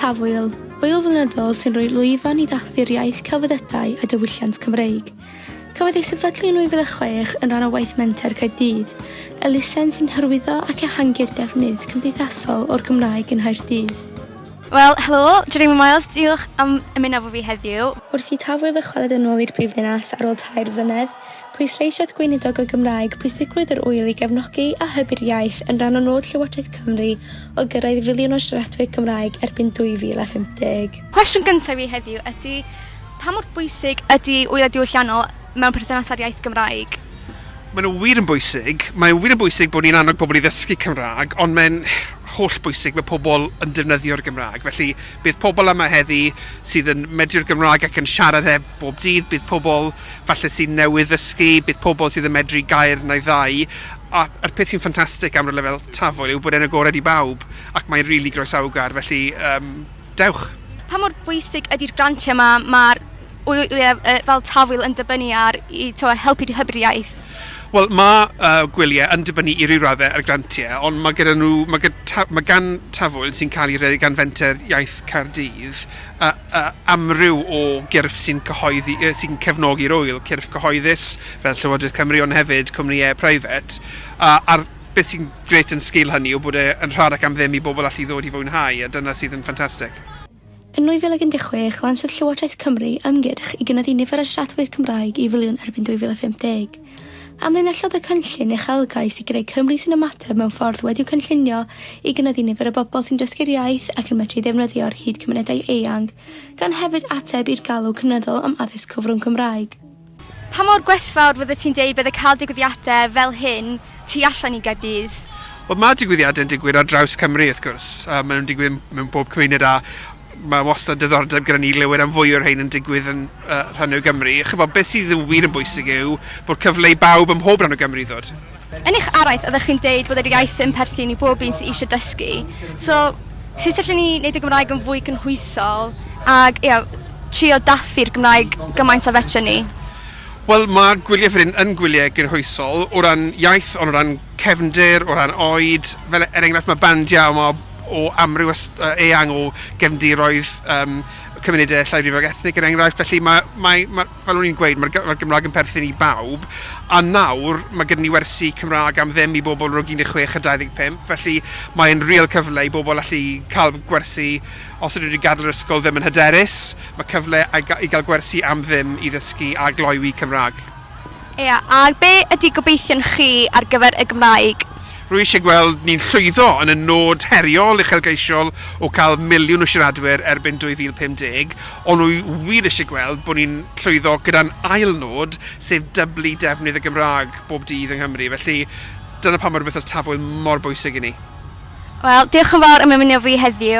Tafwyl, ŵyl flynyddol sy'n rhoi lwyfan i ddathlu'r iaith, celfyddydau a diwylliant Cymreig. Cafodd ei sefydlu yn 2006 yn rhan o waith Menter Caerdydd, elusen sy'n hyrwyddo ac ehangu'r defnydd cymdeithasol o'r Gymraeg yng Nghaerdydd. Wel, helo, Jeremy Miles, diolch am ymuno efo fi heddiw. Wrth i Tafwyl ddychwelyd yn ôl i'r brifddinas ar ôl tair flynedd, Pwysleisiodd Gweinidog y Gymraeg pwysigrwydd yr ŵyl i gefnogi a hybu'r iaith yn rhan o nod Llywodraeth Cymru o gyrraedd filiwn o siaradwyr Cymraeg erbyn 2050. Cwestiwn gyntaf fi heddiw ydy, pa mor bwysig ydy ŵylau diwylliannol mewn perthynas â'r iaith Gymraeg? Maen nhw wir yn bwysig. Mae'n wir yn bwysig bod ni'n annog pobl i ddysgu Cymraeg, ond mae'n hollbwysig bod pobl yn defnyddio'r Gymraeg, felly... Bydd pobl yma heddi sydd yn medru'r Gymraeg ac yn siarad e bob dydd, bydd pobl falle sy'n newydd ddysgu, bydd pobl sydd yn medru gair neu ddau, a a'r peth sy'n ffantastig am rywle fel Tafwyl yw bod e'n agored i bawb ac mae'n rili groesawgar, felly yym dewch! Pa mor bwysig ydy'r grantiau 'ma? Mae'r w- yy fel Tafwyl yn dibynnu ar i t'mo' helpu i hybu'r iaith. Wel, mae uh, gwyliau yn dibynnu i ryw raddau ar grantiau, ond mae gyda nhw, mae, gyda ta, mae gan Tafwyl sy'n cael ei redeg gan Fenter Iaith Caerdydd uh, uh, amryw o gyrff sy'n cyhoeddi, uh, sy'n cefnogi'r wyl, cyrff cyhoeddus fel Llywodraeth Cymru, ond hefyd cwmnïau preifat, uh, a'r beth sy'n gret yn sgil hynny yw bod e'n rhad ac am ddim i bobl allu ddod i fwynhau, a dyna sydd yn ffantastig. Yn 2016, lansiodd Llywodraeth Cymru ymgyrch i gynyddu nifer y siaradwyr Cymraeg i filiwn erbyn 2050. Amlinellodd y cynllun uchelgais i greu Cymru sy'n ymateb mewn ffordd wedi'u cynllunio i gynyddu nifer y bobl sy'n dysgu'r iaith ac yn medru ddefnyddio'r hyd cymunedau eang, gan hefyd ateb i'r galw cynyddol am addysg cyfrwng Cymraeg. Pa mor gwerthfawr fyddet ti'n deud bydde cael digwyddiadau fel hyn tu allan i Gaerdydd? Wel mae digwyddiadau yn digwydd ar draws Cymru wrth gwrs, a maen nhw'n digwydd mewn pob cymuned a mae wastad diddordeb gyda ni le am fwy o'r rhain yn digwydd yn uh, rhan o Gymru. Chybod, beth sydd yn wir yn bwysig yw bod cyfle i bawb ym mhob rhan o Gymru ddod. Yn eich araith oeddech chi'n deud bod yr iaith yn perthyn i bob un sydd eisiau dysgu. So, sut allen ni wneud y Gymraeg yn fwy cynhwysol ac ia, trio dathlu'r Gymraeg gymaint a fedrwn ni? Wel, mae gwyliau fan hyn yn gwyliau gynhwysol o ran iaith, ond o ran cefndir, o ran oed. Fel er enghraifft, mae bandiau yma o amryw ys- yy, eang o gefndiroedd um, cymunedau llai rifog ethnig, er enghraifft. Felly mae, mae, mae, fel o'n i'n gweud, mae'r mae'r Gymraeg yn perthyn i bawb, a nawr mae gyda ni wersi Cymraeg am ddim i bobl rhwng 16 a 25, felly mae'n real cyfle i bobl allu cael gwersi os ydyn nhw wedi gadael yr ysgol ddim yn hyderus, mae cyfle i gael gwersi am ddim i ddysgu a gloywi Cymraeg. Ia, a be ydy gobeithion chi ar gyfer y Gymraeg? Rwy eisiau gweld ni'n llwyddo yn y nod heriol uchelgeisiol o cael miliwn o siaradwyr erbyn 2050, ond rwy wir eisiau gweld bod ni'n llwyddo gyda'n ail nod, sef dyblu defnydd y Gymraeg bob dydd yng Nghymru. Felly, dyna pam mae rhywbeth fel Tafwyl mor bwysig i ni. Wel, diolch yn fawr am ymuno â fi heddiw.